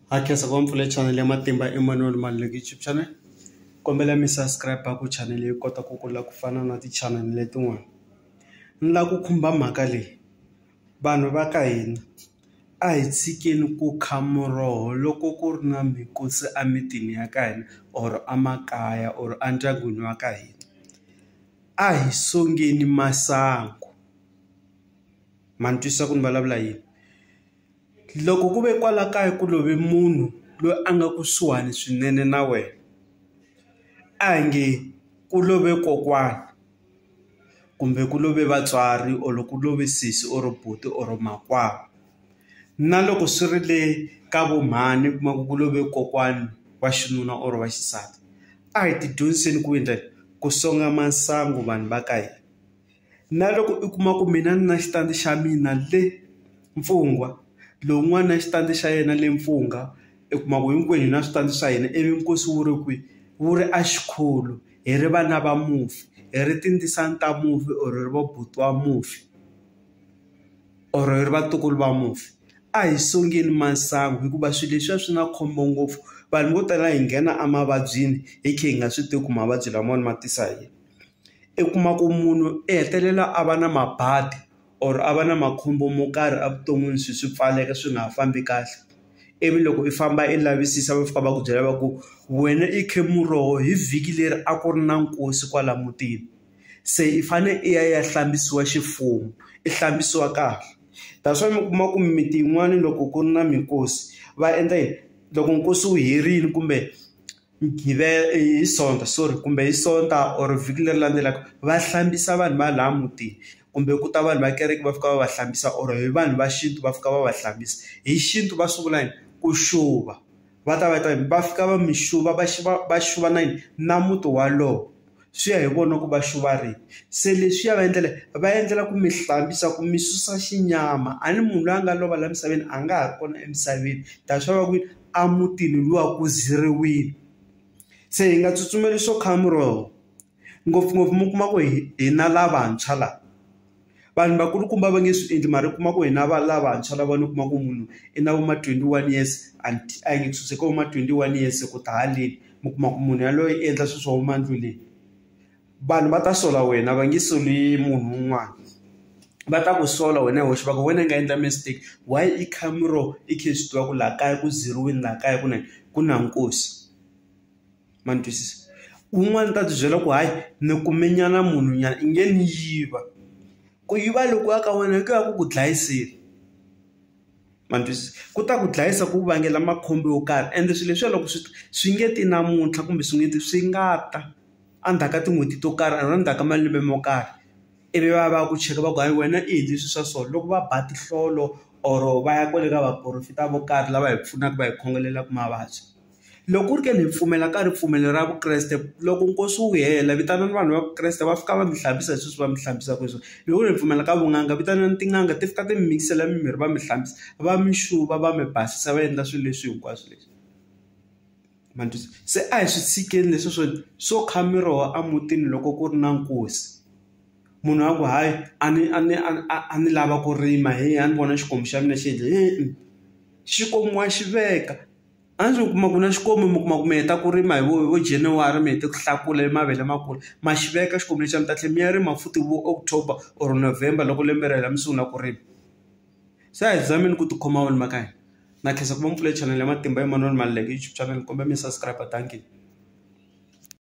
Ha khensa ku va mpfula channel ya matimba Emmanuel Maluleke YouTube channel kombela mi subscribe ku channel yi kota ku kula ku fana na ti channel letin'wana ni lava ku khumba mhaka leyi vanhu va ka hina a hi tshikeni ku kha muroho loko ku ri na mikosi emitini ya ka hina or emakaya or endyangwini wa ka hina a hi sungula masangu ma ni twisisa ku ni vulavula yini. Loko ku ve kwala kaya ku love munhu loyi a nga kusuhani swinene na wena, a hi nge ku love kokwana, kumbe ku love vatswari or ku love sesi or buti or makwavo. Na loko swi ri le ka vo mhani u kuma ku ku love kokwana wa xinuna or wa xisati, a hi ti dyondziseni ku endla ku songa masangu vanhu va ka hina. Na loko u kuma ku mina ni na xitandi xa mina le Mfungwa lowun'wana na xitandi xa yena le Mfungha u kuma ku hinkwenu hi na switandi swa hina ivi nkosi wu ri kwihi wu ri a Xikholo hi ri vana va mufi hi ri tindzisana ta mufi or hi ri va buti wa mufi or hi ri vatukulu va mufi a hi sungeni masangu hikuva swilo leswiya swi na khombo ngopfu vanhu vo tala hi nghena emavabyini hi kha hi nga swi tivi ku mavabyi lamawani ma tisa hi yini. I kuma ku munhu i hetelela a va na mabadi or a va na makhombo mo karhi evuton'wini swi swi pfaleka swi nga ha fambi kahle ivi loko i famba i lavisisa va fika va ku byela va ku wena i khe muroho hi vhiki leri a ku ri na nkosi kwala mutini se i fane i ya i ya hlambisiwa ximfumo i hlambisiwa kahle that's why mi kuma ku mimiti yin'wani loko ku ri na minkosi va endla yini loko nkosi wu herini kumbe. hi sonta sorry kumbe hi sonta or vhiki leri landzelaka va hlambisa vanhu va laha mutini kumbe ku ta vanhu va kereke va fika va va hlambisa or hi vanhu va xintu va fika va va hlambisa hi xintu va swi vula yini ku xuva va ta va ta va fika va mi xuva va va va xuva na yini na muti walowo. swi ya hi vona ku va xuva rini se leswiya va endlela va endlela ku mi hlambisa ku mi susa xinyama a ni munhu loyi a nga lova la misaveni a nga ha ri kona emisaveni that's why va ku a mutini luwa ku ziriwini se hi nga tsutsumeli swo kha muroho ngopfungopfu mi kuma ku hi hina lavantshwa la. vanhu vakulukumba va nge swi endli mara kuma ku hina va lavantshwa lava ni kuma ku munhu i na vo ma 21 years anti a yi nge suseke vo ma 21 years se ku ta haleni mi kuma ku munhu yaloye i endla swilo swa vo mandlu leyi vanhu va ta sola wena va nge soli munhu un'wana va ta ku sola wena hi wexe va ku wena i nga endla mistake why i khamero i khe swi tiva ku laha kaya ku zeriwini laha kaya ku na ku na nkosi ma ni twisisa un'wana u ta tibyela ku hayi ni kume nyana munhu nyana i nge ni yiva ku yiva loku ya ka wena hi ku ya ku ku dlayiseni ma ni twisisa ku ta ku dlayisa ku vangela makhombo yo karhi ende swilo leswiya loko swi ta swi nge ti namuntlha kumbe swi nge ti swi nga ta a ndzhaku ka tin'hweti to karhi or a ndzhaku ka malembe mo karhi ivi va ya va ya ku cheka va ku hayi wena i endle swilo swa so loko va ba tinhlolo or va ya kwale ka vaporofeta vo karhi lava hi pfunaka va hi khongelelaku mavabyi. Loko ku ri ke ni hi pfumela ka ripfumelo ra Vukreste loko nkosi wu hela vitanani vanhu va Vukreste va fika va mi hlambisa hi sweswi va mi hlambisaka hi swona loko ku ri hi pfumela ka vun'anga vitanani tin'anga ti fika ti mi mikisela mimirhi va mi hlambisa va mi xuva va mi basisa va endla swilo leswi hinkwaswo leswi ma ni twisa se a hi swi tshikeni leswi swo swo kha miroho a mutini loko ku ri na nkosi munhu a ku hayi a ni a ni a ni a a ni lava ku rima heyi a ni vona xikomu xa mina xi endle xi komiwa xi veka. A ndzi kuma ku na xikwembu mi kuma ku mi heta ku rima hi vo hi vo January mi hete ku hlakula i mavele ma kula ma xi veka xikwembu lexi a mi ta tlhe mi ya rima futhi vo October or November loko lembe ri hela mi sungula ku rima se a hi zameni ku tikhoma vanhu va ka hina na khensa ku va mi pfule chanel ya matimba Emmanuel Maluleke YouTube chanel ni kombela mi subscribe dankie.